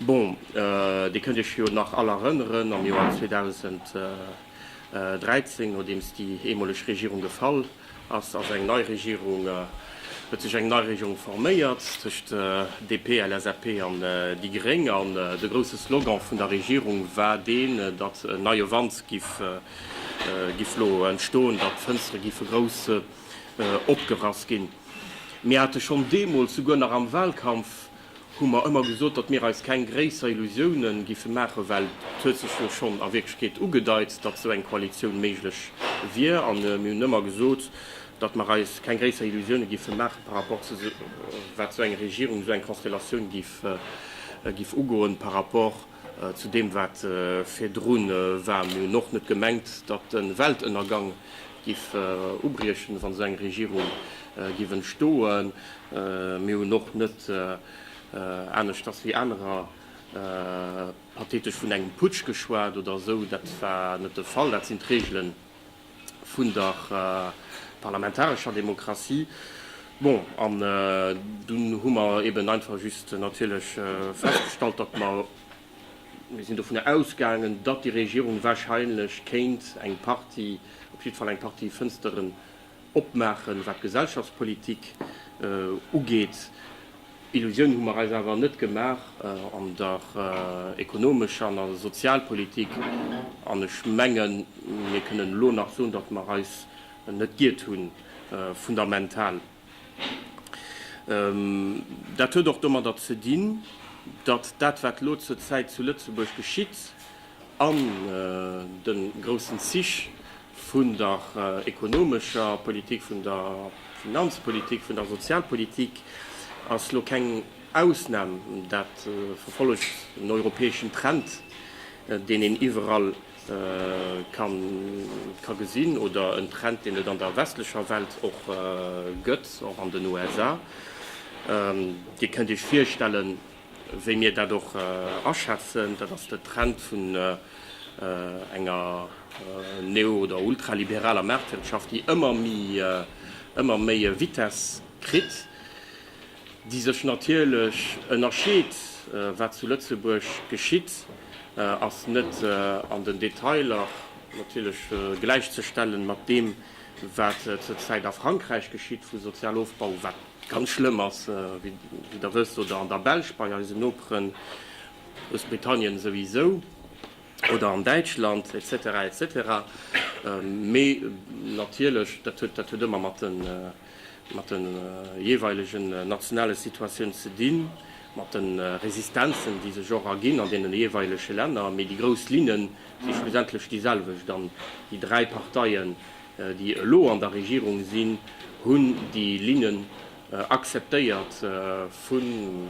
Bon, Dir kënnt Iech jo nach all erënneren, am Joer 2013, nodeems déi eemoleg Regierung gefall ass, ass eng nei Regierung, huet sech eng nei Regierung forméiert tëscht DP, LSAP an déi Gréng. An de grousse Slogan vun der Regierung war deen, datt en neie Wand giff giff elo entstoen, datt d'Fënstere giffe grouss opgerass ginn. Mir hate schonn deemools, souguer nach am Wahlkampf, hu mer ëmmer gesot, datt mir eis keng gréisser Illusioune géife maachen, well et huet sech jo schonn a Wierklechkeet ugedeit, datt esou eng Koalitioun méiglech wier. An mir hunn ëmmer gesot, datt mer eis keng gréisser Illusioune géife maachen par rapport zu wat esou eng Regierung, esou eng Konstellatioun géif ugoen par rapport, Zu deem wat virdru war, Mir hunn och net gemengt, datt de Weltënnergang giff ubriechen, wa sou eng Regierung giff entstoen. Mir hunn och net, aneschters wéi anerer, pathetesch vun engem Putsch geschwat oder esou. Dat war net de Fall. Dat sinn d'Regelen. vun der parlamentarescher Demokratie. Bon, an dunn hu mer eben einfach just natierlech festgestallt, datt mer, mir sinn dovunner ausgaangen, datt déi Regierung wahrscheinlech kéint eng Partie, op jiddwer Fall eng Partie Fënsteren opmaachen, wat d'Gesellschaftspolitik ugeet. Illusiounen hu mer eis awer net gemaach an der ekonomescher an der Sozialpolitik. An ech mengen, mir kënnen elo nach soen, datt mer eis net giert hunn, fundamental. Dat huet och domadder ze dinn, datt dat, wat elo zur Zäit zu Lëtzebuerg geschitt, An de groussen Zich vun der ekonomescher Politik, vun der Finanzpolitik, vun der Sozialpolitik ass lo keng Ausnam. Dat verfollegt en europäeschen Trend, deen een iwwerall ka gesinn, oder en Trend, deen et an der westlecher Welt och gëtt, och an den USA. Dir kënnt Iech virstellen, Wéi mir dat och aschätzen, dat ass de Trend vun enger neo oder ultraliberaler Maartwirtschaft, déi ëmmer méi e Vitess kritt, déi sech natierlech ënnerscheet. Wat zu Lëtzebuerg geschitt, ass net an den Detailer natierlech gläichzestellen mat deem, wat zur Zäit a Frankräich geschitt, vu Sozialofbau, wat. Ganz schlëmm ass, wéi Der wësst, oder an der Belsch bei eisen Noperen, Groussbritannien souwisou, oder an Däitschland, etc. Etc. Mee natierlech, dat huet, dat huet ëmmer mat de, mat de jeeweilegen nationale Situatiounen ze dinn, mat de Resistenzen, déi sech och erginn an deene jeeweilege Länner. Mee déi grouss Linnen si schlussendlech déiselwecht. An déi dräi Parteien, déi elo an der Regierung sinn, hunn déi Linnen akzeptéiert vun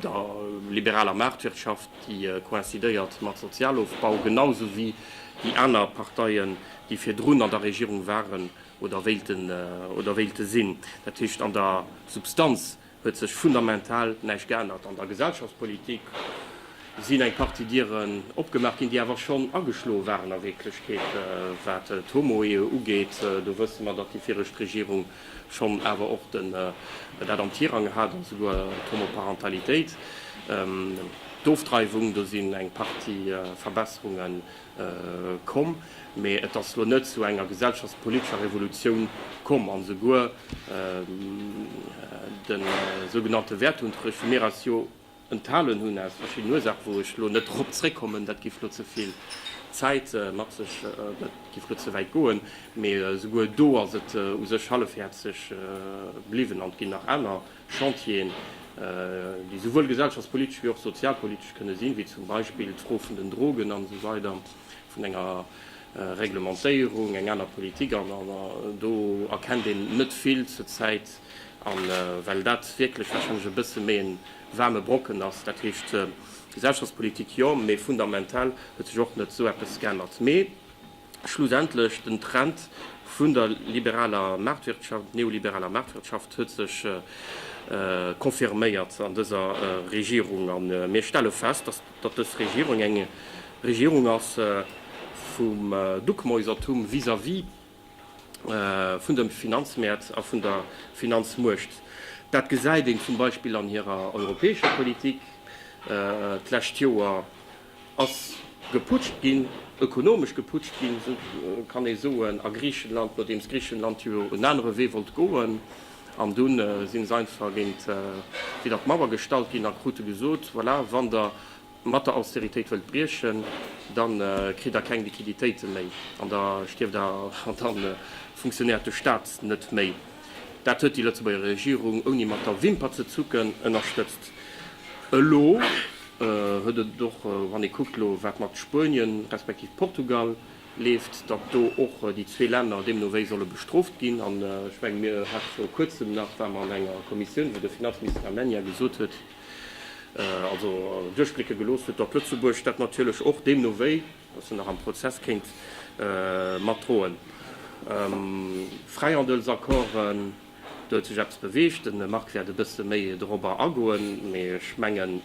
der liberaler Maartwirtschaft, déi coïncidéiert mat Sozialofbau, genau esou wéi déi aner Parteien, déi virdrun an der Regierung waren oder wéilten oder wéilte sinn. Dat heescht, an der Substanz huet sech fundamental näischt geännert. An der Gesellschaftspolitik sinn eng Partie Dieren opgemaach ginn, déi awer schonn ageschloe waren a Wierklechkeet. Wat d'Homoehe ugeet, do wësse mer, datt déi viregt Regierung schonn awer och dat am Tirang hat an esouguer d'Homoparentalitéit, d'Ofdreiwung, do sinn eng Partie Verbesserungen komm, mee et ass elo net zu enger gesellschaftspolitescher Revolutioun komm. An esouguer de sougenannte Wertunterricht, wou mir eis jo enthalen hunn aus verschiddenen Ursaachen, wou ech elo net drop zréckkommen, dat géif elo ze vill Zäit mat sech, dat géif elo ze wäit goen, mee esouguer do ass et u sech hallefhäerzeg bliwwen an et ginn nach aner Chantieren, déi esouwuel gesellschaftspolitesch wéi och sozialpolitesch kënne sinn, wéi zum Beispill d'Fro vun den Drogen an esou weider, vun enger Reglementéierung, eng aner Politik. An do erkennt een net vill zur Zäit. A well dat wierklech warscheinlech e bësse méi e waarme Brocken ass, dat heescht Gesellschaftspolitik jo, mee fundamental huet sech och net esou eppes geännert. Mee. Schlussendlech, den Trend vun der liberaler Maartwirtschaft, neoliberaler Maartwirtschaft huet sech confirméiert an dëser Regierung. A mir stelle fest, datt dës Regierung eng Regierung ass vum Duckmäusertum vis-à-vis vun de Finanzmäert a vun der Finanzmuecht. Dat gesäit een zum Beispill an hirer europäescher Politik d'lescht Joer, Ass geputscht ginn, ökonomesch geputscht ginn, kann ee soen, a Griichenland, nodeems Griichenland jo en anere Wee wollt goen. An dunn si se einfach géint widder d'Mauer gestallt ginn a krute gesot, voilà, wann Der mat der Austeritéit wëllt briechen, da kritt Der keng Liquiditéite méi an da stierft Der an da funktionéiert de Stat net méi. Dat huet déi Lëtzebuerger Regierung, ouni mat der Wimper ze zucken, ënnerstëtzt. Elo huet et och, wann ee kuckt elo, wat mat Spuenien, respektiv Portugal leeft, datt do och déi zwee Länner deemno wéi solle bestrooft ginn. An ech mengen, mir hate viru Kuerzem nach, ware mer an enger Kommissioun, wou de Finanzminister Almunia gesot huet, also duerchblécke gelooss huet, datt Lëtzebuerg dat natierlech och deemno wéi, datt se nach am Prozess, kéint matdroen. Fräihandelsaccorden. Do huet sech eppes beweegt. De Marc wäert e bësse méi dorobber agoen, mee ech mengen,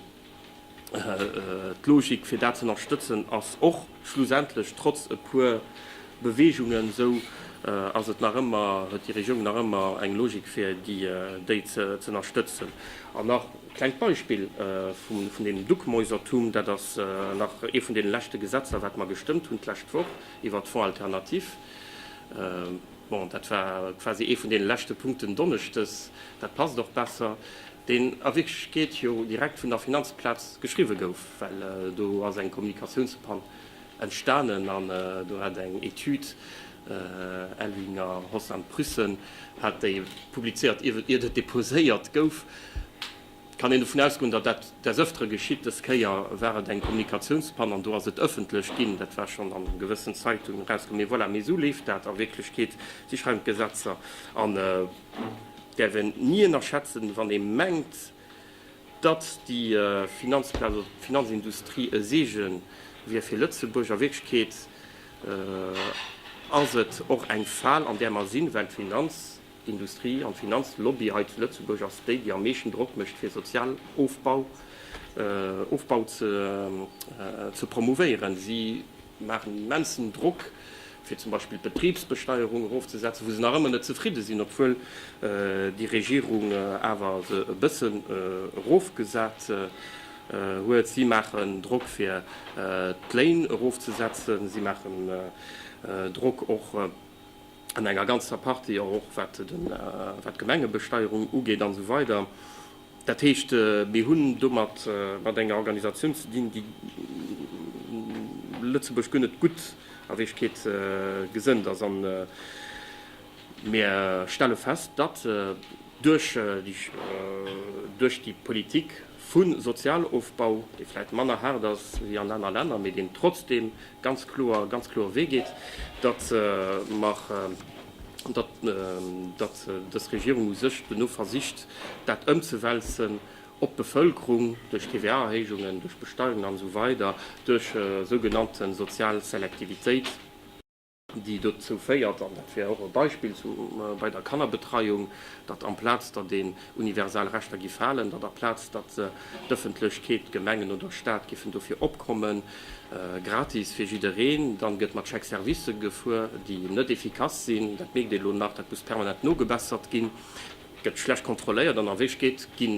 d'Logik, fir dat z'ënnerstëtzen, ass och schlussendlech, trotz e puer Beweegungen, esou ass et nach ëmmer, huet déi Regierung nach ëmmer eng Logik, fir déi z'ënnerstëtzen. An nach e klengt Beispill vun deem Duckmäusertum, Dat ass nach ee vun deene leschte Gesetzer, wat mer gestëmmt hunn d'lescht Woch iwwert d'Fonds alternatif. Bon, dat war quasi ee vun deene leschte Punkten donneschdes, dat passt och besser, deen a Wierklechkeet jo direkt vun der Finanzplaz geschriwwe gouf, well do ass eng Kommunikatiounspann entstanen an do hat eng Etüd, Elvinger Hossam Pryssen hat déi publizéiert, ier et deposéiert gouf. Et kann een dovun ausgoen, datt dat des Ëftere geschitt. Des Kéier war et eng Kommunikatiounspann an do ass et ëffentlech ginn. Dat war schonn an gewëssen Zeitungen erauskomm. Mee voilà, mee esou leeft dat a Wierklechkeet. Si schreiwen d'Gesetzer an däerf een ni ënnerschätzen, wann ee mengt, datt déi Finanzplaz oder d'Finanzindustrie e Seege wier fir Lëtzebuerg. A Wierklechkeet ass et och eng Fal, an där mer sinn, well d'Finanz. D'Industrie an d'Finanzlobby hei zu Lëtzebuerg ass déi, déi am meeschten Drock mécht fir Sozialofbau Ofbau ze promouvéieren. Si maachen en immensen Drock fir zum Beispill d'Betribsbesteierung erofzesetzen, wou se nach ëmmer net zefridde sinn, obwuel déi Regierung awer se e bëssen erofgesat huet. Si maachen Drock fir d'Léin erofzesetzen. Si maachen Drock och. an enger ganzer Partie, och wat d'Gemengebesteierung ugeet an esou weider. Dat heescht, mir hunn do mat enger Organisatioun ze dinn, déi Lëtzebuerg guer net gutt a Wierklechkeet gesënnt ass. An mir stelle fest, datt duerch déi Politik, vu Sozialofbau, dee vläit manner haart ass wéi an aner Länner, mee deen trotzdeem ganz kloer, ganz kloer Wee geet, datt mer, datt, datt dës Regierung u sech duerno versicht, dat ëmzewälzen op d'Bevëlkerung duerch TVA-Erhéijungen, duerch Besteierungen an esou weider, duerch sougenannte sozial Selektivitéit. déi dozou féiert, an dat wär och e Beispill bei der Kannerbetreiung, datt amplaz datt een universal Rechter gi falen, datt aplaz datt d'Ëffentlechkeet, d'Gemengen oder Stat giffen dofir opkommen, gratis fir jiddereen, dann gëtt mat Chèque-servicë gefuer, déi net efficace sinn. Dat mierkt ee lo nach, dat muss permanent nogebessert ginn, gëtt schlecht kontrolléiert an a Wéichkeet gi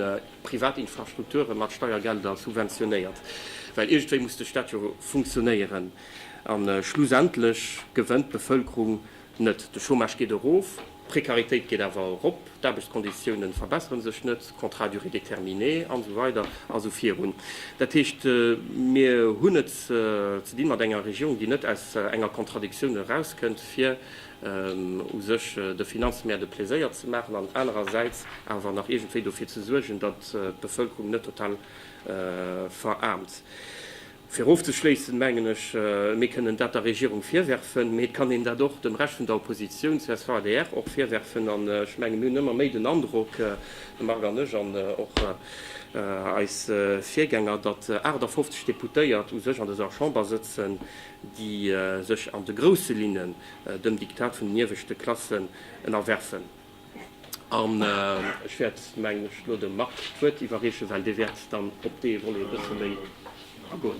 privat Infrastrukture mat Steiergelder subventionéiert, well iergendwéi muss de Stat jo funktionéieren. A schlussendlech gewënnt d'Bevëlkerung net. De Chômage geet erof, d'Prekaritéit geet awer erop, d'Aarbechtskonditiounen verbessere sech net, Contrat à durée déterminée an esou weider a esou virun. Dat heescht, mir hunn et ze di mat enger Regierung, déi net aus enger Contradictioun erauskënnt, fir u sech de Finanzmäert e Pleséier ze maachen an anerersäits awer nach iergendwéi dofir ze suergen, datt d'Bevëlkerung net total veraarmt. Fir ofzeschléissen, mengen ech, mir kënnen dat der Regierung virwerfen, mee et kann een dat och dem Rescht vun der Oppositioun, csv, adr, och virwerfen. An ech menge mir hunn ëmmer méi den Androck, de Marc an ech an och eis Virgänger, datt 58 Deputéiert u sech an dëser Chamber sëtzen, déi sech an de grousse Linnen dem Diktat vun den ieweschte Klassen ënnerwerfen. An ech wäert, mengen ech, elo dem Marc d'Wuert iwwerreechen, well dee wäert dann op dee Volet e bësse méi agoen.